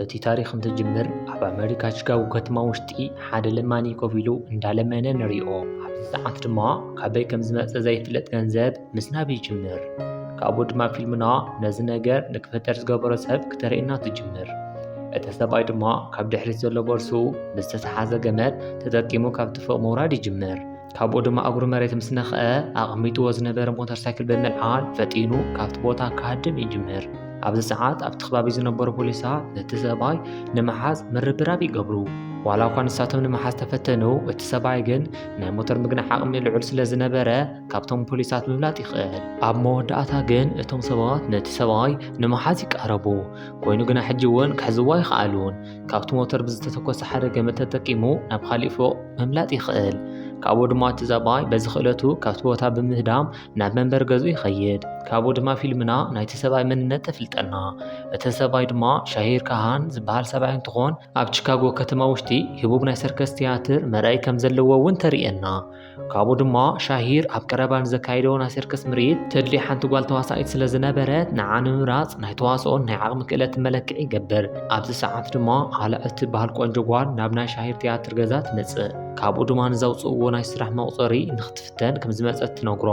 እቲ ታሪኽ እንትጅምር ኣብ ኣመሪካ ቺካጎ ከተማ ውሽጢ ሓደ ለማኒ ኮፍ ኢሉ እንዳለመነ ንሪኦ። ኣብዚ ሰዓት ድማ ካበይ ከም ዝመፀ ዘይፍለጥ ገንዘብ ምስናብ ይጅምር። ካብኡ ድማ ፊልምና ነዚ ነገር ንክፈጠር ዝገበሮ ሰብ ክተርእየና ትጅምር። እቲ ሰብኣይ ድማ ካብ ድሕሪት ዘሎ ቦርስኡ ብዝተተሓዘ ገመድ ተጠቂሙ ካብቲ ፎቕ ምውራድ ይጅምር። ካብኡ ድማ እግሩ መሬት ምስ ነኽአ ኣቐሚጥዎ ዝነበረ ሞተር ሳይክል ብምልዓል ፈጢኑ ካብቲ ቦታ ክሃድም ይጅምር። ኣብዚ ሰዓት ኣብቲ ከባቢ ዝነበሩ ፖሊሳት ነቲ ሰብኣይ ንምሓዝ ምርብራብ ይገብሩ ዋላ እኳ ንሳቶም ንምሓዝ ተፈተኑ እቲ ሰብኣይ ግን ናይ ሞተር ምግናሕ ዓቕሚ ልዑል ስለ ዝነበረ ካብቶም ፖሊሳት ምብላጥ ይኽእል ኣብ መወዳእታ ግን እቶም ሰባት ነቲ ሰብኣይ ንምሓዝ ይቃረቡ ኮይኑ ግና ሕጂ እውን ክሕዝዎ ኣይክኣሉን ካብቲ ሞተር ብዝተተኮሰ ሓደ ገመድ ተጠቂሙ ናብ ካሊእ ፎቕ ምምላጥ ይኽእል። ካብኡ ድማ እቲ ዛባይ በዚ ክእለቱ ካብቲ ቦታ ብምህዳም ናብ መንበሪ ገዙ ይኸይድ። ካብኡ ድማ ፊልምና ናይቲ ሰብኣይ መንነት ተፍልጠና። እቲ ሰብኣይ ድማ ሻሂር ካሃን ዝበሃል ሰብኣይ እንትኾን ኣብ ቺካጎ ከተማ ውሽጢ ህቡብ ናይ ሰርከስ ትያትር መርኣይ ከም ዘለዎ እውን ተርእየና። ካብኡ ድማ ሻሂር ኣብ ቀረባ ንዘካይዶ ናይ ሰርከስ ምርኢት ተድልይ ሓንቲ ጓል ተዋሳኢት ስለ ዝነበረት ንዓ ንምምራፅ ናይ ተዋስኦን ናይ ዓቕሚ ክእለትን መለክዒ ይገብር። ኣብዚ ሰዓት ድማ ዓላ እትበሃል ቆንጆ ጓል ናብ ናይ ሻሂር ትያትር ገዛ ትመፅእ። ካብኡ ድማ ንዘውፅእዎ ናይ ስራሕ መቑፀሪ ንክትፍተን ከምዝመፀት ትነግሮ።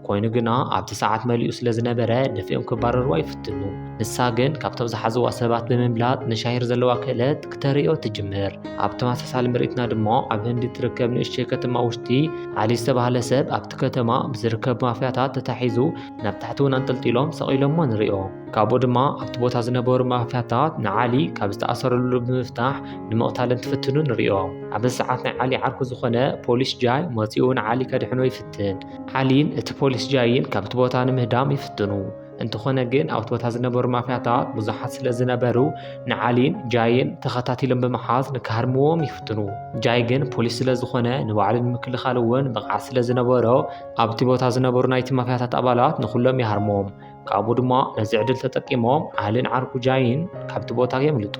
ኮይኑ ግና ኣብቲ ሰዓት መሊኡ ስለ ዝነበረ ደፊኦም ክባረርዋ ይፍትኑ ንሳ ግን ካብቶም ዝሓዝዋ ሰባት ብምብላጥ ንሻሂር ዘለዋ ክእለት ክተርእዮ ትጅምር ኣብ ተመሳሳሊ ምርኢትና ድማ ኣብ ህንዲ ትርከብ ንእሽተይ ከተማ ውሽጢ ዓሊ ዝተባህለ ሰብ ኣብቲ ከተማ ብዝርከብ ማፍያታት ተታሒዙ ናብ ታሕቲ እውን ኣንጠልጢሎም ሰቒሎሞ ንሪኦ ካብኡ ድማ ኣብቲ ቦታ ዝነበሩ ማፍያታት ንዓሊ ካብ ዝተኣሰረሉ ብምፍታሕ ንምቕታል እንትፍትኑ ንሪኦ ኣብዚ ሰዓት ናይ ዓሊ ዓርኩ ዝኾነ ፖሊስ ጃይ መፂኡ ንዓሊ ከድሕኖ ይፍትን ዓሊን እቲ ፖሊስ ጃይን ካብቲ ቦታ ንምህዳም ይፍትኑ። እንተኾነ ግን ኣብቲ ቦታ ዝነበሩ ማፍያታት ብዙሓት ስለ ዝነበሩ ንዓሊን ጃይን ተኸታቲሎም ብምሓዝ ንክሃርምዎም ይፍትኑ። ጃይ ግን ፖሊስ ስለ ዝኾነ ንባዕሉ ንምክልኻል እውን ብቕዓት ስለ ዝነበሮ ኣብቲ ቦታ ዝነበሩ ናይቲ ማፍያታት ኣባላት ንኹሎም ይሃርሞም። ካብኡ ድማ ነዚ ዕድል ተጠቂሞም ዓልን ዓርኩጃይን ካብቲ ቦታ የምልጡ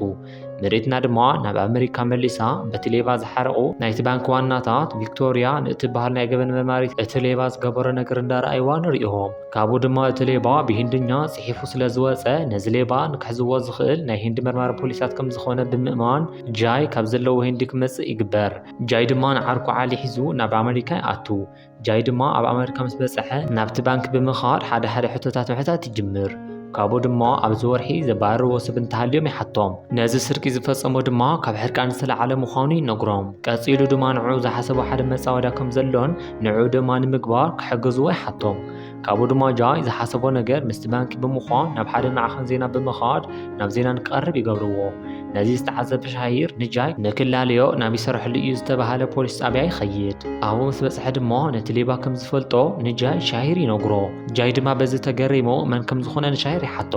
መሬትና ድማ ናብ ኣመሪካ መሊሳ በቲ ሌባ ዝሓረቑ ናይቲ ባንኪ ዋናታት ቪክቶርያ ንእትበሃል ናይ ገበን መርማሪት እቲ ሌባ ዝገበሮ ነገር እንዳረኣይዋ ንሪኦም ካብኡ ድማ እቲ ሌባ ብሂንድኛ ጽሒፉ ስለ ዝወፀ ነዚ ሌባ ንክሕዝዎ ዝኽእል ናይ ሂንዲ መርማሪ ፖሊሳት ከም ዝኾነ ብምእማን ጃይ ካብ ዘለዎ ሂንዲ ክመጽእ ይግበር ጃይ ድማ ንዓርኩ ዓሊ ሒዙ ናብ ኣመሪካ ይኣቱ ጃይ ድማ ኣብ ኣመሪካ ምስ በጽሐ ናብቲ ባንኪ ብምኻድ ሓደ ሓደ ሕቶታት ምሕታት ይጅምር። ካብኡ ድማ ኣብዚ ወርሒ ዘባርርዎ ሰብ እንተሃልዮም ይሓቶም ነዚ ስርቂ ዝፈጸሞ ድማ ካብ ሕርቃን ዝተለዓለ ምዃኑ ይነግሮም ቀጺሉ ድማ ንዕኡ ዝሓሰቦ ሓደ መጻወድያ ከም ዘሎን ንዕኡ ድማ ንምግባር ክሕግዝዎ ይሓቶም ካብኡ ድማ ጃይ ዝሓሰቦ ነገር ምስቲ ባንኪ ብምዃን ናብ ሓደ ንዓኸን ዜና ብምኻድ ናብ ዜና ንቀርብ ይገብርዎ። ነዚ ዝተዓዘበ ሻሂር ንጃይ ንክላለዮ ናብ ይሰርሐሉ እዩ ዝተባሃለ ፖሊስ ጣብያ ይኸይድ። ኣብኡ ምስ በፅሐ ድማ ነቲ ሌባ ከም ዝፈልጦ ንጃይ ሻሂር ይነግሮ። ጃይ ድማ በዚ ተገሪሙ መን ከም ዝኾነ ንሻሂር ይሓቶ።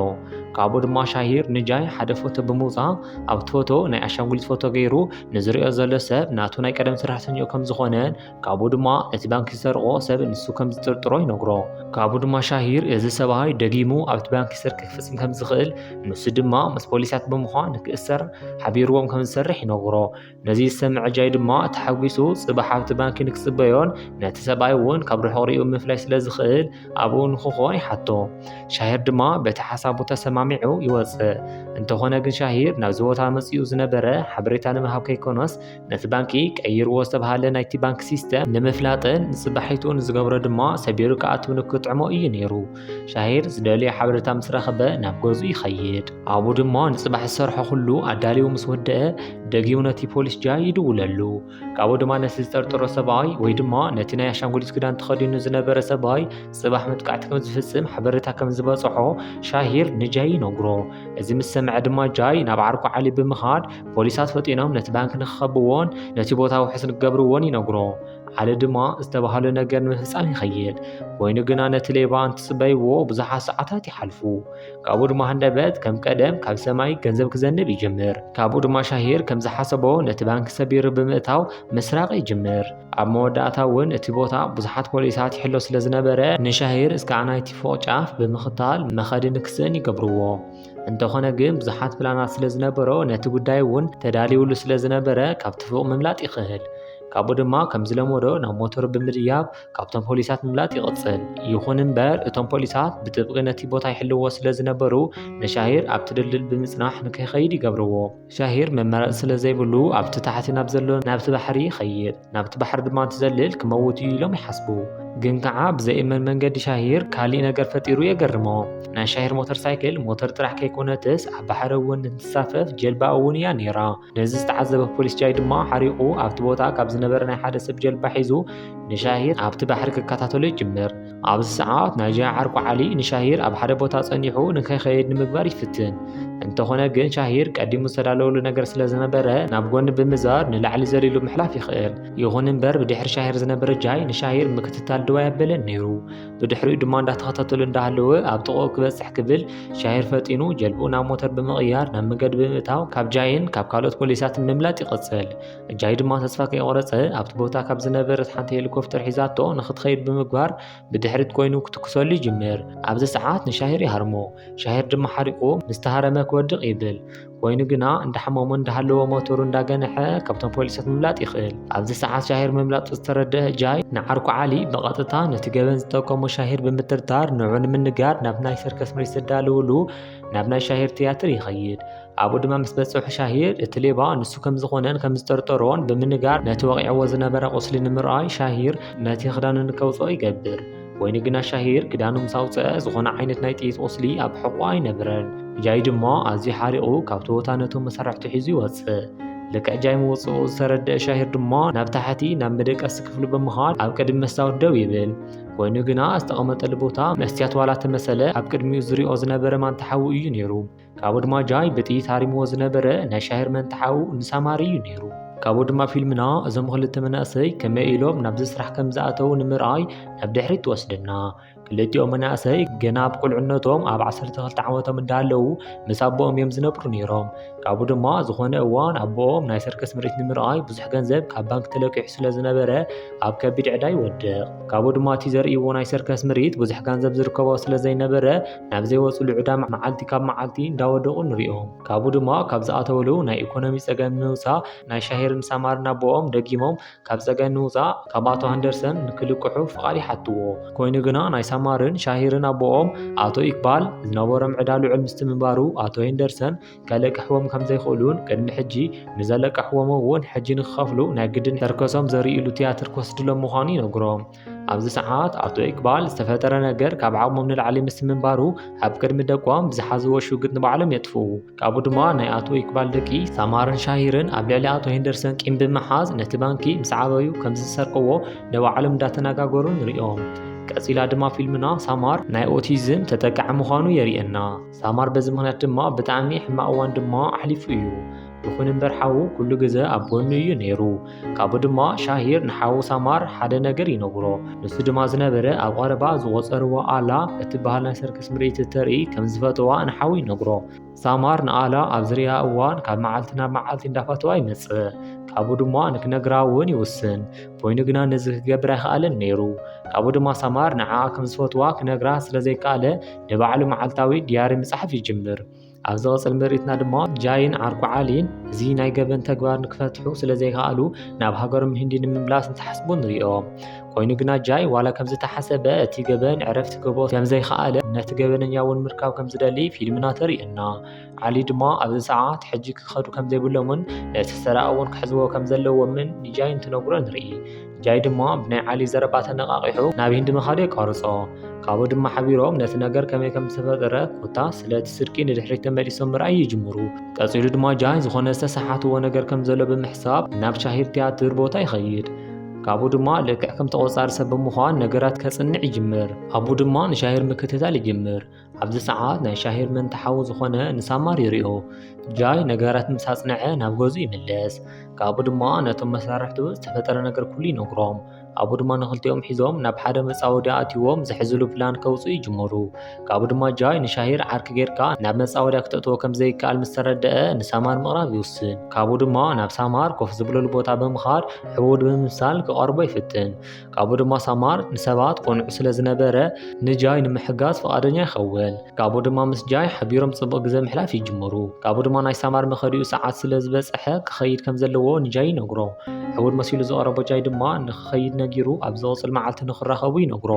ካብኡ ድማ ሻሂር ንጃይ ሓደ ፎቶ ብምውፃእ ኣብቲ ፎቶ ናይ ኣሻንጉሊት ፎቶ ገይሩ ንዝሪኦ ዘሎ ሰብ ናቱ ናይ ቀደም ሰራሕተኛኡ ከም ዝኾነን ካብኡ ድማ ነቲ ባንኪ ዝሰርቖ ሰብ ንሱ ከም ዝጥርጥሮ ይነግሮ። ካብኡ ድማ ሻሂር እዚ ሰብኣይ ደጊሙ ኣብቲ ባንኪ ስርቂ ክፍጽም ከም ዝኽእል ንሱ ድማ ምስ ፖሊሳት ብምዃን ንክእሰር ሓቢርዎም ከም ዝሰርሕ ይነግሮ። ነዚ ዝሰምዐ ጃይ ድማ ተሓጒሱ ጽባሕ ኣብቲ ባንኪ ንክጽበዮን ነቲ ሰብኣይ እውን ካብ ርሑቕ ሪኡ ምፍላይ ስለ ዝኽእል ኣብኡ ንክኾን ይሓቶ። ሻሂር ድማ በቲ ሓሳቡ ተሰማሚዑ ይወጽእ። እንተኾነ ግን ሻሂር ናብዚ ቦታ መጺኡ ዝነበረ ሓበሬታ ንምሃብ ከይኮነስ ነቲ ባንኪ ቀይርዎ ዝተብሃለ ናይቲ ባንኪ ሲስተም ንምፍላጥን ንጽባሒቱ ንዝገብሮ ድማ ሰቢሩ ክኣቱ ንክጥዕሞ እዩ ነይሩ። ሻሂር ዝደልዮ ሓበሬታ ምስ ረኸበ ናብ ገዙ ይኸይድ። ኣብኡ ድማ ንጽባሕ ዝሰርሖ ኩሉ ኣዳልዩ ምስ ወደአ ደጊሙ ነቲ ፖሊስ ጃይ ይድውለሉ። ካብኡ ድማ ነቲ ዝጠርጠሮ ሰብኣይ ወይ ድማ ነቲ ናይ ኣሻንጉሊት ክዳን ተኸዲኑ ዝነበረ ሰብኣይ ጽባሕ መጥቃዕቲ ከም ዝፍጽም ሓበሬታ ከም ዝበጽሖ ሻሂር ንጃይ ይነግሮ እዚ ምስ ሰምዐ ድማ ጃይ ናብ ዓርኩ ዓሊ ብምኻድ ፖሊሳት ፈጢኖም ነቲ ባንክ ንክኸብዎን ነቲ ቦታ ውሕስ ንክገብርዎን ይነግሮ ዓሊ ድማ ዝተባህለ ነገር ንምፍጻም ይኸይድ ኮይኑ ግና ነቲ ሌባ እንትጽበይዎ ብዙሓት ሰዓታት ይሓልፉ ካብኡ ድማ ሃንደበት ከም ቀደም ካብ ሰማይ ገንዘብ ክዘንብ ይጅምር ካብኡ ድማ ሻሂር ከም ዝሓሰቦ ነቲ ባንክ ሰቢሩ ብምእታው ምስራቅ ይጅምር ኣብ መወዳእታ እውን እቲ ቦታ ብዙሓት ፖሊሳት ይሕሎ ስለ ዝነበረ ንሻሂር እስከ ናይቲ ፎቕ ጫፍ ብምኽታል መኸዲ ንክስእን ይገብርዎ። እንተኾነ ግን ብዙሓት ፕላናት ስለ ዝነበሮ ነቲ ጉዳይ እውን ተዳልዩሉ ስለ ዝነበረ ካብቲ ፎቕ ምምላጥ ይኽእል። ካብኡ ድማ ከም ዝለመዶ ናብ ሞተሩ ብምድያብ ካብቶም ፖሊሳት ምምላጥ ይቕጽል። ይኹን እምበር እቶም ፖሊሳት ብጥብቂ ነቲ ቦታ ይሕልዎ ስለ ዝነበሩ ንሻሂር ኣብቲ ድልድል ብምጽናሕ ንከይኸይድ ይገብርዎ። ሻሂር መመረፂ ስለ ዘይብሉ ኣብቲ ታሕቲ ናብ ዘሎ ናብቲ ባሕሪ ይኸይድ፣ ናብቲ ባሕሪ ድማ እንትዘልል ክመውት እዩ ኢሎም ይሓስቡ። ግን ከዓ ብዘይእመን መንገዲ ሻሂር ካሊእ ነገር ፈጢሩ የገርሞም። ናይ ሻሂር ሞተር ሳይክል ሞተር ጥራሕ ከይኮነትስ ኣብ ባሕሪ እውን እንትንሳፈፍ ጀልባ እውን እያ ነይራ። ነዚ ዝተዓዘበ ፖሊስ ጃይ ድማ ሓሪቑ ኣብቲ ቦታ ካብ ዝነበረ ናይ ሓደ ሰብ ጀልባ ሒዙ ንሻሂር ኣብቲ ባሕሪ ክከታተሎ ይጅምር። ኣብዚ ሰዓት ናይጃ ዓርኩ ዓሊ ንሻሂር ኣብ ሓደ ቦታ ጸኒሑ ንከይኸይድ ንምግባር ይፍትን እንተኾነ ግን ሻሂር ቀዲሙ ዝተዳለወሉ ነገር ስለ ዝነበረ ናብ ጎኒ ብምዛር ንላዕሊ ዘሊሉ ምሕላፍ ይኽእል ይኹን እምበር ብድሕሪ ሻሂር ዝነበረ ጃይ ንሻሂር ምክትታል ድዋ ያበለን ነይሩ ብድሕሪኡ ድማ እንዳተኸታተሉ እንዳሃለወ ኣብ ጥቕኡ ክበጽሕ ክብል ሻሂር ፈጢኑ ጀልብኡ ናብ ሞተር ብምቕያር ናብ መንገዲ ብምእታው ካብ ጃይን ካብ ካልኦት ፖሊሳትን ምምላጥ ይቕጽል እጃይ ድማ ተስፋ ከይቆረጸ ኣብቲ ቦታ ካብ ዝነበረት ሓንቲ ሄሊኮፕተር ሒዛቶ ንክትኸይድ ብምግባር ብድሕሪት ኮይኑ ክትኩሰሉ ይጅምር ኣብዚ ሰዓት ንሻሂር ይሃርሞ ሻሂር ድማ ሓሪቁ ምስ ተሃረመ ክወድቕ ይብል ኮይኑ ግና እንዳሓመሞ እንዳሃለዎ ሞተሩ እንዳገነሐ ካብቶም ፖሊሳት ምምላጥ ይኽእል ኣብዚ ሰዓት ሻሂር ምምላጡ ዝተረድአ እጃይ ንዓርኩ ዓሊ ብቐጥታ ነቲ ገበን ዝጠቀሞ ሻሂር ብምትርታር ንዑ ንምንጋር ናብ ናይ ሰርከስ ምሪት ዘዳልውሉ ናብ ናይ ሻሂር ትያትር ይኸይድ ኣብኡ ድማ ምስ በጽሑ ሻሂር እቲ ሌባ ንሱ ከም ዝኾነን ከም ዝጠርጠሮን ብምንጋር ነቲ ወቂዕዎ ዝነበረ ቁስሊ ንምርኣይ ሻሂር ነቲ ክዳኑ ንከውጽኦ ይገብር። ኮይኑ ግና ሻሂር ክዳኑ ምስ ኣውጽኣ ዝኾነ ዓይነት ናይ ጥይት ቁስሊ ኣብ ሕቖኡ ኣይነብረን። ጃይ ድማ ኣዝዩ ሓሪቑ ካብቲ ቦታ ነቶም መሳርሕቱ ሒዙ ይወጽእ። ልክዕ ጃይ ምውጽኡ ዝተረድኣ ሻሂር ድማ ናብ ታሕቲ ናብ መደቀሲ ክፍሉ ብምኻድ ኣብ ቅድሚ መስታወት ደው ይብል። ኮይኑ ግና ዝተቐመጠሉ ቦታ መስትያት ዋላ ተመሰለ ኣብ ቅድሚኡ ዝሪኦ ዝነበረ ማንታ ሓዊ እዩ ነይሩ። ካብኡ ድማ ጃይ ብጥይት ሃሪምዎ ዝነበረ ናይ ሻሂር መንትሓኡ ንሳማሪ እዩ ነይሩ ካብኡ ድማ ፊልምና እዞም ክልተ መናእሰይ ከመይ ኢሎም ናብዚ ስራሕ ከም ዝኣተዉ ንምርኣይ ናብ ድሕሪት ትወስደና ክልቲኦም መናእሰይ ገና ኣብ ቁልዕነቶም ኣብ 12 ዓመቶም እንዳለዉ ምስ ኣቦኦም እዮም ዝነብሩ ነይሮም ካብኡ ድማ ዝኾነ እዋን ኣቦኦም ናይ ሰርከስ ምርኢት ንምርኣይ ብዙሕ ገንዘብ ካብ ባንክ ተለቂሑ ስለ ዝነበረ ኣብ ከቢድ ዕዳ ይወድቕ ካብኡ ድማ እቲ ዘርእይዎ ናይ ሰርከስ ምርኢት ብዙሕ ገንዘብ ዝርከቦ ስለ ዘይነበረ ናብ ዘይወፅሉ ዕዳ መዓልቲ ካብ መዓልቲ እንዳወደቑ ንሪኦም። ካብኡ ድማ ካብ ዝኣተውሉ ናይ ኢኮኖሚ ፀገም ንምውፃእ ናይ ሻሂርን ሳማርን ኣቦኦም ደጊሞም ካብ ፀገም ንምውፃእ ካብ ኣቶ ሃንደርሰን ንክልቅሑ ፍቓድ ይሓትዎ። ኮይኑ ግና ናይ ሳማርን ሻሂርን ኣቦኦም ኣቶ ኢክባል ዝነበሮም ዕዳ ልዑል ምስቲ ምንባሩ ኣቶ ሄንደርሰን ከልቅሕዎም ከምዘይኽእሉን ቅድሚ ሕጂ ንዘለቀሕዎም እውን ሕጂ ንክኸፍሉ ናይ ግድን ተርከሶም ዘሪእሉ ትያትር ክወስድሎም ምዃኑ ይነግሮም። ኣብዚ ሰዓት ኣቶ ኢቅባል ዝተፈጠረ ነገር ካብ ዓቕሞም ንላዕሊ ምስ ምንባሩ ኣብ ቅድሚ ደቆም ብዝሓዝዎ ሽግጥ ንባዕሎም የጥፉ ካብኡ ድማ ናይ ኣቶ ኢቅባል ደቂ ሳማርን ሻሂርን ኣብ ልዕሊ ኣቶ ሄንደርሰን ቂም ብምሓዝ ነቲ ባንኪ ምስ ዓበዩ ከም ዝሰርቅዎ ንባዕሎም እንዳተነጋገሩ ንሪኦም ቀጺላ ድማ ፊልምና ሳማር ናይ ኦቲዝም ተጠቃዒ ምዃኑ የርእየና ሳማር በዚ ምክንያት ድማ ብጣዕሚ ሕማቕ እዋን ድማ ኣሕሊፉ እዩ ይኹን እምበር ሓዉ ኩሉ ግዘ ኣብ ጎኑ እዩ ነይሩ ካብኡ ድማ ሻሂር ንሓዉ ሳማር ሓደ ነገር ይነግሮ ንሱ ድማ ዝነበረ ኣብ ቐረባ ዝቖፀርዎ ኣላ እትበሃል ናይ ሰርከስ ምርኢት እተርኢ ከም ዝፈተዋ ንሓዉ ይነግሮ ሳማር ንኣላ ኣብ ዝርያ እዋን ካብ መዓልቲ ናብ መዓልቲ እንዳፈተዋ ይመፅእ ካብኡ ድማ ንክነግራ እውን ይውስን ኮይኑ ግና ነዚ ክገብር ኣይከኣለን ነይሩ ካብኡ ድማ ሳማር ንዓኣ ከም ዝፈትዋ ክነግራ ስለ ዘይከኣለ ንባዕሉ መዓልታዊ ድያሪ ምጽሓፍ ይጅምር። ኣብ ዝቕጽል ምርኢትና ድማ ጃይን ዓርኩ ዓሊን እዚ ናይ ገበን ተግባር ንክፈትሑ ስለ ዘይከኣሉ ናብ ሃገሮም ህንዲ ንምምላስ እንትሓስቡ ንሪኦ። ኮይኑ ግና ጃይ ዋላ ከም ዝተሓሰበ እቲ ገበን ዕረፍቲ ክህቦ ከም ዘይከኣለ ነቲ ገበነኛ እውን ምርካብ ከም ዝደሊ ፊልምና ተርእየና። ዓሊ ድማ ኣብዚ ሰዓት ሕጂ ክኸዱ ከም ዘይብሎምን ነቲ ሰራቂ እውን ክሕዝዎ ከም ዘለዎምን ንጃይ እንትነግሮ ንርኢ። ጃይ ድማ ብናይ ዓሊ ዘረባ ተነቓቒሑ ናብ ሂንዲ ምኻዱ የቋርጾ። ካብኡ ድማ ሓቢሮም ነቲ ነገር ከመይ ከም ዝተፈጠረ ኮታስ ስለ እቲ ስርቂ ንድሕሪት ተመሊሶም ምርኣይ ይጅምሩ። ቀጺሉ ድማ ጃይ ዝኾነ ዝተሰሓትዎ ነገር ከም ዘሎ ብምሕሳብ ናብ ሻሂድ ትያትር ቦታ ይኸይድ። ካብኡ ድማ ልክዕ ከም ተቖጻሪ ሰብ ብምዃን ነገራት ከጽንዕ ይጅምር። ኣቡ ድማ ንሻሂር ምክትታል ይጅምር። ኣብዚ ሰዓት ናይ ሻሂር መንታ ሓዉ ዝኾነ ንሳማር ይሪኦ ጃይ ነገራት ምስ ኣጽንዐ ናብ ገዝኡ ይምለስ ካብኡ ድማ ነቶም መሳርሕቱ ዝተፈጠረ ነገር ኩሉ ይነግሮም ኣብኡ ድማ ንኽልቲኦም ሒዞም ናብ ሓደ መጻወዲ ኣትይዎም ዝሕዝሉ ፕላን ከውፅኡ ይጅምሩ ካብኡ ድማ ጃይ ንሻሂር ዓርኪ ጌርካ ናብ መጻወድያ ክተእትዎ ከም ዘይከኣል ምስ ተረድአ ንሳማር ምቕራብ ይውስን ካብኡ ድማ ናብ ሳማር ኮፍ ዝብለሉ ቦታ ብምኻድ ዕቡድ ብምምሳል ክቐርቦ ይፍትን ካብኡ ድማ ሳማር ንሰባት ቆንዑ ስለ ዝነበረ ንጃይ ንምሕጋዝ ፍቓደኛ ይኸውን ካብኡ ድማ ምስ ጃይ ሓቢሮም ጽቡቕ ግዜ ምሕላፍ ይጅምሩ ካብኡ ድማ ናይ ሳማር መኸዲኡ ሰዓት ስለ ዝበጽሐ ክኸይድ ከም ዘለዎ ንጃይ ይነግሮ ሕውር መሲሉ ዝቐረቦ ጃይ ድማ ንክኸይድ ነጊሩ ኣብ ዝቕጽል መዓልቲ ንክራኸቡ ይነግሮ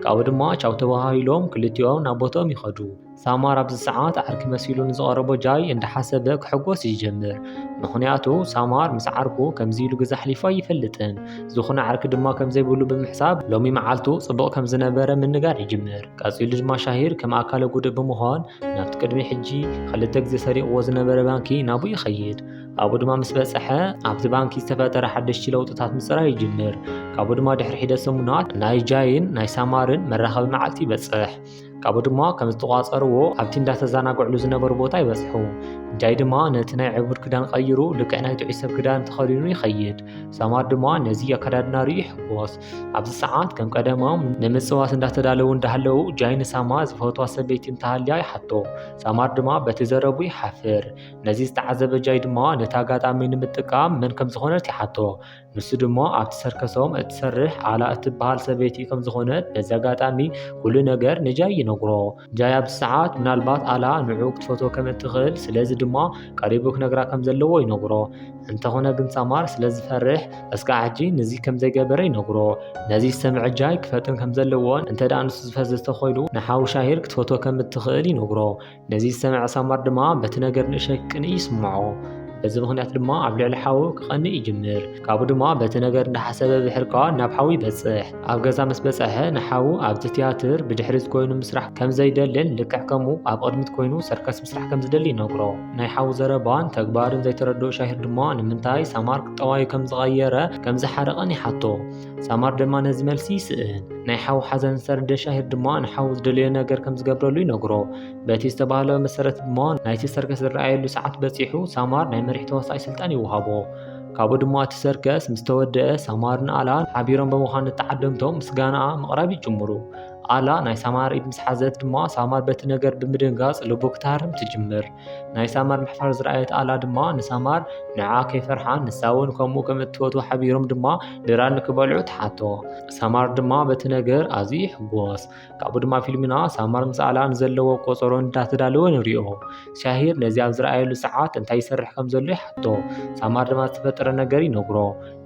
ካብኡ ድማ ቻው ተባሃሂሎም ክልቲኦም ናብ ቦትኦም ይኸዱ ሳማር ኣብዚ ሰዓት ዓርኪ መሲሉ ንዝቐረቦ ጃይ እንዳሓሰበ ክሕጎስ ይጀምር። ምኽንያቱ ሳማር ምስ ዓርኩ ከምዚ ኢሉ ግዜ ኣሕሊፉ ኣይፈልጥን። ዝኾነ ዓርኪ ድማ ከምዘይብሉ ብምሕሳብ ሎሚ መዓልቱ ጽቡቕ ከምዝነበረ ምንጋር ይጅምር። ቀጺሉ ድማ ሻሂር ከም ኣካለ ጉዱእ ብምዃን ናብቲ ቅድሚ ሕጂ ክልተ ግዜ ሰሪቕዎ ዝነበረ ባንኪ ናብኡ ይኸይድ። ኣብኡ ድማ ምስ በጽሐ ኣብቲ ባንኪ ዝተፈጠረ ሓደሽቲ ለውጥታት ምጽራይ ይጅምር። ካብኡ ድማ ድሕሪ ሒደት ሰሙናት ናይ ጃይን ናይ ሳማርን መራኸቢ መዓልቲ ይበጽሕ። ካብኡ ድማ ከም ዝተቋፀርዎ ኣብቲ እንዳተዘናግዕሉ ዝነበሩ ቦታ ይበፅሑ እንታይ ድማ ነቲ ናይ ዕቡድ ክዳን ቀይሩ ልክዕ ናይ ጥዑይ ሰብ ክዳን ተኸዲኑ ይኸይድ ሰማር ድማ ነዚ ኣከዳድና ርዩ ይሕጎስ ኣብዚ ሰዓት ከም ቀደሞም ንምፅዋት እንዳተዳለዉ እንዳሃለዉ ጃይ ንሳማ ዝፈትዋ ሰበይቲ እንተሃልያ ይሓቶ ሰማር ድማ በቲ ዘረቡ ይሓፍር ነዚ ዝተዓዘበ ጃይ ድማ ነቲ ኣጋጣሚ ንምጥቃም መን ከም ዝኾነት ይሓቶ ንሱ ድማ ኣብቲ ሰርከሶም እትሰርሕ ኣላ እትበሃል ሰበይቲ ከም ዝኾነት በዚ ኣጋጣሚ ኩሉ ነገር ንጃይ ይነግሮ። ጃይ ኣብዚ ሰዓት ምናልባት ኣላ ንዕኡ ክትፈትዎ ከም እትኽእል ስለዚ ድማ ቀሪቡ ክነግራ ከም ዘለዎ ይነግሮ። እንተኾነ ግን ሳማር ስለ ዝፈርሕ እስካዕ ሕጂ ንዚ ከም ዘይገበረ ይነግሮ። ነዚ ዝሰምዐ ጃይ ክፈጥን ከም ዘለዎን እንተደኣ ንሱ ዝፈዘዘ ተኾይኑ ንሓው ሻሂር ክትፈትዎ ከም እትኽእል ይነግሮ። ነዚ ዝሰምዐ ሳማር ድማ በቲ ነገር ንእሸክ ቅንእ ይስምዖ በዚ ምኽንያት ድማ ኣብ ልዕሊ ሓዉ ክቐንእ ይጅምር ካብኡ ድማ በቲ ነገር እንዳሓሰበ ብሕርካ ናብ ሓዉ ይበጽሕ ኣብ ገዛ ምስ በጽሐ ንሓዉ ኣብቲ ትያትር ብድሕሪት ኮይኑ ምስራሕ ከም ዘይደልን ልክዕ ከምኡ ኣብ ቕድሚት ኮይኑ ሰርከስ ምስራሕ ከም ዝደሊ ይነግሮ ናይ ሓዉ ዘረባን ተግባርን ዘይተረድኦ ሻሂር ድማ ንምንታይ ሳማር ቁጠባዩ ከም ዝቐየረ ከም ዝሓረቐን ይሓቶ ሳማር ድማ ነዚ መልሲ ይስእን ናይ ሓው ሓዘን ዝተረደ ሻሂር ድማ ንሓው ዝደለዮ ነገር ከም ዝገብረሉ ይነግሮ በቲ ዝተባህለ መሰረት ድማ ናይቲ ሰርከስ ዝረኣየሉ ሰዓት በፂሑ ሳማር ናይ መሪሕ ተዋሳኢ ስልጣን ይወሃቦ ካብኡ ድማ እቲ ሰርከስ ምስ ተወደአ ሳማርን ኣላን ሓቢሮም ብምዃን ንተዓደምቶም ምስጋናኣ ምቕራብ ይጅምሩ ኣላ ናይ ሳማር ኢድ ምስ ሓዘት ድማ ሳማር በቲ ነገር ብምድንጋፅ ልቡ ክትሃርም ትጅምር ናይ ሳማር ምሕፋር ዝረኣየት ኣላ ድማ ንሳማር ንዓ ከይፈርሓን ንሳ እውን ከምኡ ከም እትፈትዎ ሓቢሮም ድማ ድራ ንክበልዑ ትሓቶ ሳማር ድማ በቲ ነገር ኣዝዩ ይሕጎስ ካብኡ ድማ ፊልምና ሳማር ምስ ኣላ ንዘለዎ ቆፀሮ እንዳተዳለወ ንሪኦ ሻሂር ነዚ ኣብ ዝረኣየሉ ሰዓት እንታይ ይሰርሕ ከም ዘሎ ይሓቶ ሳማር ድማ ዝተፈጠረ ነገር ይነግሮ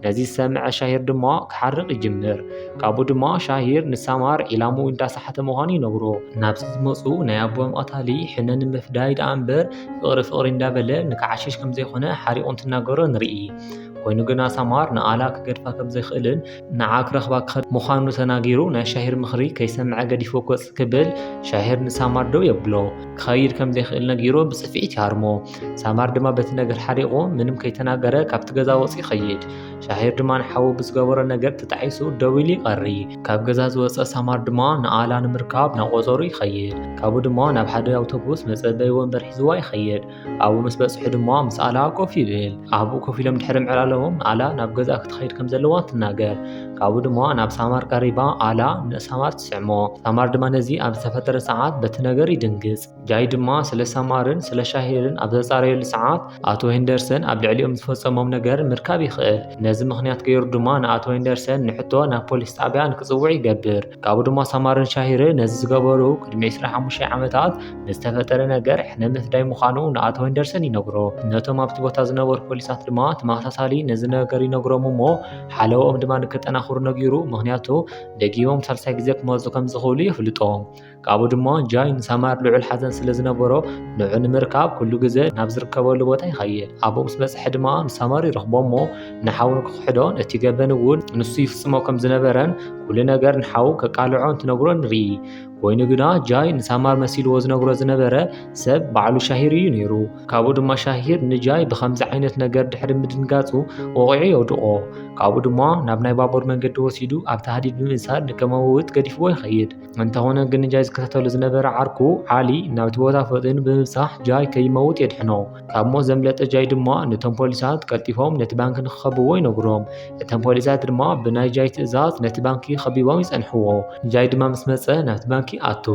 ነዚ ዝሰምዐ ሻሂር ድማ ክሓርቕ ይጅምር ካብኡ ድማ ሻሂር ንሳማር ዒላሙ እንዳሰሓተ ምዃኑ ይነግሮ ናብዚ ዝመፁ ናይ ኣቦም ቐታሊ ሕነ ንምፍዳይ ደኣ እምበር ፍቕሪ ፍቕሪ እንዳበለ ንክዓሽሽ ከም ዘይኮነ ሓሪቑ እንትናገሮ ንርኢ ኮይኑ ግና ሳማር ንኣላ ክገድፋ ከም ዘይክእልን ንዓ ክረኽባ ክኸድ ምዃኑ ተናጊሩ ናይ ሻሂር ምኽሪ ከይሰምዐ ገዲፎ ኮፅ ክብል ሻሂር ንሳማር ደው የብሎ ክኸይድ ከም ዘይክእል ነጊሮ ብፅፍዒት ይሃርሞ ሳማር ድማ በቲ ነገር ሓሪቑ ምንም ከይተናገረ ካብቲ ገዛ ወፂ ይኸይድ ሻሂር ድማ ንሓዉ ብዝገበሮ ነገር ተጣዒሱ ደው ኢሉ ይቐሪ ካብ ገዛ ዝወፀ ሳማር ድማ ንኣላ ንምርካብ ናብ ቆፀሩ ይኸይድ ካብኡ ድማ ናብ ሓደ ኣውቶቡስ መፀበይ ወንበር ሒዝዋ ይኸይድ ኣብኡ ምስ በፅሑ ድማ ምስ ኣላ ኮፍ ይብል ኣብኡ ኮፍ ኢሎም ድሕሪ ምዕላለዎም ኣላ ናብ ገዛ ክትኸይድ ከም ዘለዋ ትናገር ካብኡ ድማ ናብ ሳማር ቀሪባ ኣላ ንሳማር ትስዕሞ ሳማር ድማ ነዚ ኣብ ዝተፈጠረ ሰዓት በቲ ነገር ይድንግፅ ጃይ ድማ ስለ ሳማርን ስለ ሻሂርን ኣብ ዘጻረየሉ ሰዓት ኣቶ ሄንደርሰን ኣብ ልዕሊኦም ዝፈጸሞም ነገር ምርካብ ይኽእል። ነዚ ምኽንያት ገይሩ ድማ ንኣቶ ሄንደርሰን ንሕቶ ናብ ፖሊስ ጣብያ ንክጽውዕ ይገብር። ካብኡ ድማ ሳማርን ሻሂርን ነዚ ዝገበሩ ቅድሚ ዕስራን ሓሙሽተን ዓመታት ንዝተፈጠረ ነገር ሕነ ምፍዳይ ምዃኑ ንኣቶ ሄንደርሰን ይነግሮ። ነቶም ኣብቲ ቦታ ዝነበሩ ፖሊሳት ድማ ተመሳሳሊ ነዚ ነገር ይነግሮም እሞ ሓለወኦም ድማ ንከጠናኽሩ ነጊሩ ምኽንያቱ ደጊሞም ሳልሳይ ግዜ ክመጹ ከም ዝኽእሉ የፍልጦም። ካብኡ ድማ ጃይ ንሳማር ልዑል ሓዘን ስለ ዝነበሮ ንዑ ንምርካብ ኩሉ ግዘ ናብ ዝርከበሉ ቦታ ይኸየ ኣብኡ ምስ በፅሐ ድማ ንሳማር ይረኽቦ እሞ ንሓው ንክክሕዶን እቲ ገበን እውን ንሱ ይፍፅሞ ከም ዝነበረን ኩሉ ነገር ንሓው ከቃልዖ እንትነግሮ ንርኢ ኮይኑ ግና ጃይ ንሳማር መሲልዎ ዝነግሮ ዝነበረ ሰብ ባዕሉ ሻሂር እዩ ነይሩ ካብኡ ድማ ሻሂር ንጃይ ብከምዚ ዓይነት ነገር ድሕሪ ምድንጋፁ ወቂዑ የውድቆ ካብኡ ድማ ናብ ናይ ባቡር መንገዲ ወሲዱ ኣብቲ ሃዲድ ብምእሳር ንከመውት ገዲፍዎ ይኸይድ እንተኾነ ግን ጃይ ዝከታተሉ ዝነበረ ዓርኩ ዓሊ ናብቲ ቦታ ፈጢኑ ብምብጻሕ ጃይ ከይመውት የድሕኖ ካብ ሞት ዘምለጠ ጃይ ድማ ነቶም ፖሊሳት ቀልጢፎም ነቲ ባንኪ ንክኸብዎ ይነግሮም እቶም ፖሊሳት ድማ ብናይ ጃይ ትእዛዝ ነቲ ባንኪ ከቢቦም ይጸንሕዎ ጃይ ድማ ምስ መጸ ናብቲ ባንኪ ኣቱ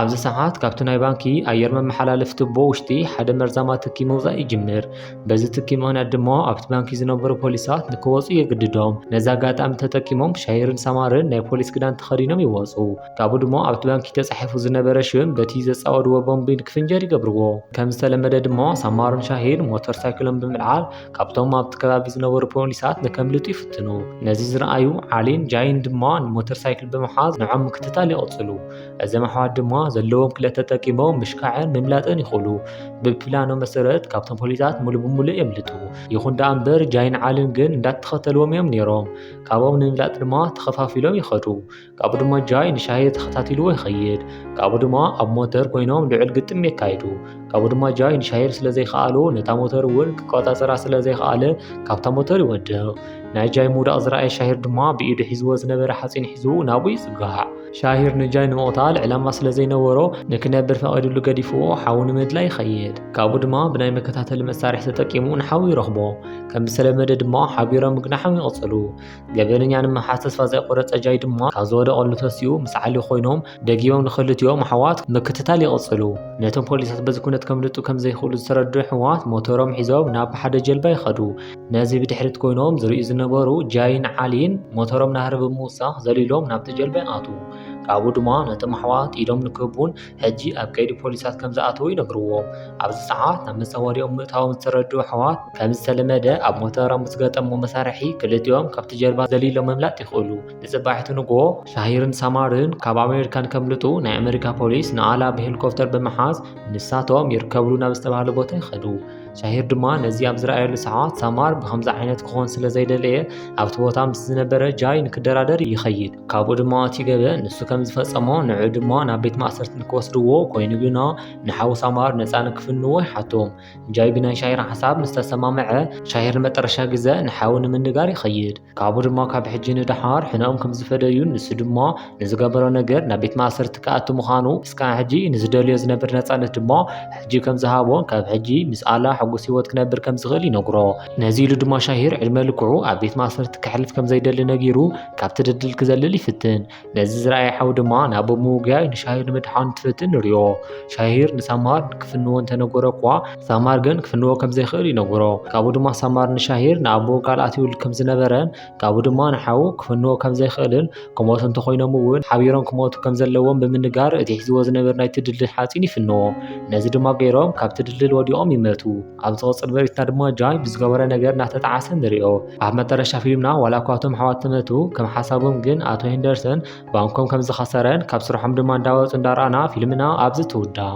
ኣብዚ ሰዓት ካብቲ ናይ ባንኪ ኣየር መመሓላለፊ ትቦ ውሽጢ ሓደ መርዛማ ትኪ ምውጻእ ይጅምር በዚ ትኪ ምክንያት ድማ ኣብቲ ባንኪ ዝነበሩ ፖሊሳት ንክወፁ የግድዶም ነዚ ኣጋጣሚ ተጠቂሞም ሻይርን ሰማርን ናይ ፖሊስ ክዳን ተኸዲኖም ይወፁ ካብኡ ድማ ኣብቲ ባንኪ ተፃሒፉ ዝነበረ ሽም በቲ ዘፃወድዎ ቦምቢ ንክፍንጀር ይገብርዎ ከም ዝተለመደ ድማ ሰማርን ሻሂር ሞተር ሳይክሎም ብምልዓል ካብቶም ኣብቲ ከባቢ ዝነበሩ ፖሊሳት ንከምልጡ ይፍትኑ ነዚ ዝረኣዩ ዓሊን ጃይን ድማ ንሞተር ሳይክል ብምሓዝ ንዖም ምክትታል ይቕፅሉ እዘም ኣሕዋት ድማ ዘለዎም ክለት ተጠቂሞም ምሽካዕን ምምላጥን ይኽእሉ ብፕላኖ መሰረት ካብቶም ፖሊሳት ሙሉ ብምሉእ የምልጡ ይኹን ደኣ እምበር ጃይን ዓልን ግን እንዳተኸተልዎም እዮም ነይሮም ካብኦም ንምምላጥ ድማ ተኸፋፊሎም ይኸዱ ካብኡ ድማ ጃይ ንሻሂ ተኸታቲልዎ ይኸይድ ካብኡ ድማ ኣብ ሞተር ኮይኖም ልዑል ግጥም የካይዱ ካብኡ ድማ ጃይ ንሻሂር ስለ ዘይከኣሉ ነታ ሞተር እውን ክቆፃፀራ ስለ ዘይከኣለ ካብታ ሞተር ይወድቕ ናይ ጃይ ምውዳቕ ዝረኣየ ሻሂር ድማ ብኢዱ ሒዝዎ ዝነበረ ሓፂን ሒዙ ናብኡ ይፅጋዕ ሻሂር ንጃይ ንምቕታል ዕላማ ስለ ዘይነበሮ ንክነብር ፈቒድሉ ገዲፍዎ ሓዊ ንምድላይ ይኸይድ። ካብኡ ድማ ብናይ መከታተሊ መሳርሒ ተጠቂሙ ንሓዊ ይረኽቦ። ከም ዝተለመደ ድማ ሓቢሮም ምግናሖም ይቕጽሉ። ገበነኛ ንምሓዝ ተስፋ ዘይቆረጸ ጃይ ድማ ካብ ዝወደቐሉ ተሲኡ ምስ ዓሊ ኮይኖም ደጊሞም ንክልቲኦም ኣሕዋት ምክትታል ይቕጽሉ። ነቶም ፖሊሳት በዚ ኩነት ከምልጡ ከም ዘይክእሉ ዝተረድኡ ኣሕዋት ሞተሮም ሒዞም ናብ ሓደ ጀልባ ይኸዱ። ነዚ ብድሕሪት ኮይኖም ዝርእዩ ዝነበሩ ጃይን ዓሊን ሞተሮም ናህሪ ብምውሳኽ ዘሊሎም ናብቲ ጀልባ ይኣትዉ። ካብኡ ድማ ነቶም ኣሕዋት ኢዶም ንክህቡን ሕጂ ኣብ ቀይዲ ፖሊሳት ከም ዝኣተዉ ይነግርዎም። ኣብዚ ሰዓት ናብ መጻወድያኦም ምእታዎም ዝተረድኡ ኣሕዋት ከም ዝተለመደ ኣብ ሞተሮም ብዝገጠምዎ መሳርሒ ክልቲኦም ካብቲ ጀልባ ዘሊሎም ምምላጥ ይኽእሉ። ንጽባሒቱ ንግሆ ሻሂርን ሳማርን ካብ ኣሜሪካ ንከምልጡ ናይ ኣመሪካ ፖሊስ ንኣላ ብሄሊኮፕተር ብምሓዝ ንሳቶም ይርከብሉ ናብ ዝተባህለ ቦታ ይኸዱ። ሻሂር ድማ ነዚ ኣብ ዝረኣየሉ ሰዓት ሳማር ብከምዚ ዓይነት ክኾን ስለ ዘይደለየ ኣብቲ ቦታ ምስ ዝነበረ ጃይ ንክደራደር ይኸይድ ካብኡ ድማ እቲ ገበ ንሱ ከም ዝፈጸሞ ንዑ ድማ ናብ ቤት ማእሰርቲ ንክወስድዎ ኮይኑ ግና ንሓው ሳማር ነፃ ንክፍንዎ ይሓቶም ጃይ ብናይ ሻሂር ሓሳብ ምስተሰማምዐ ሻሂር መጠረሻ ግዘ ንሓው ንምንጋር ይኸይድ ካብኡ ድማ ካብ ሕጂ ንደሓር ሕነኦም ከም ዝፈደዩን ንሱ ድማ ንዝገበሮ ነገር ናብ ቤት ማእሰርቲ ክኣቱ ምዃኑ እስካዕ ሕጂ ንዝደልዮ ዝነብር ነፃነት ድማ ሕጂ ከም ዝሃቦ ካብ ሕጂ ምስ ኣላ ሕጉስ ህይወት ክነብር ከም ዝኽእል ይነግሮ ነዚ ኢሉ ድማ ሻሂር ዕድመ ልክዑ ኣብ ቤት ማእሰርቲ ከሕልፍ ከም ዘይደሊ ነጊሩ ካብቲ ድልድል ክዘልል ይፍትን ነዚ ዝረኣየ ሓው ድማ ናብ ምውጋይ ንሻሂር ንምድሓን ትፍትን ንሪኦ ሻሂር ንሳማር ክፍንዎ እንተነገሮ እኳ ሳማር ግን ክፍንዎ ከም ዘይኽእል ይነግሮ ካብኡ ድማ ሳማር ንሻሂር ንኣቦ ቃል ኣትዩሉ ከም ዝነበረን ካብኡ ድማ ንሓው ክፍንዎ ከም ዘይኽእልን ክሞቱ እንተኾይኖም እውን ሓቢሮም ክሞቱ ከም ዘለዎም ብምንጋር እቲ ሒዝዎ ዝነበር ናይ ትድልድል ሓፂን ይፍንዎ ነዚ ድማ ገይሮም ካብቲ ድልድል ወዲቖም ይመቱ ኣብ ዝቕፅል በሪትና ድማ ጃን ብዝገበረ ነገር እናተጣዓሰ ንሪኦ ኣብ መጠረሻ ፊልምና ዋላ እኳ እቶም ኣሕዋት ተመቱ ከም ሓሳቦም ግን ኣቶ ሄንደርሰን ባንኮም ከም ዝኸሰረን ካብ ስርሖም ድማ እንዳወፁ እንዳረኣና ፊልምና ኣብዚ ትውዳእ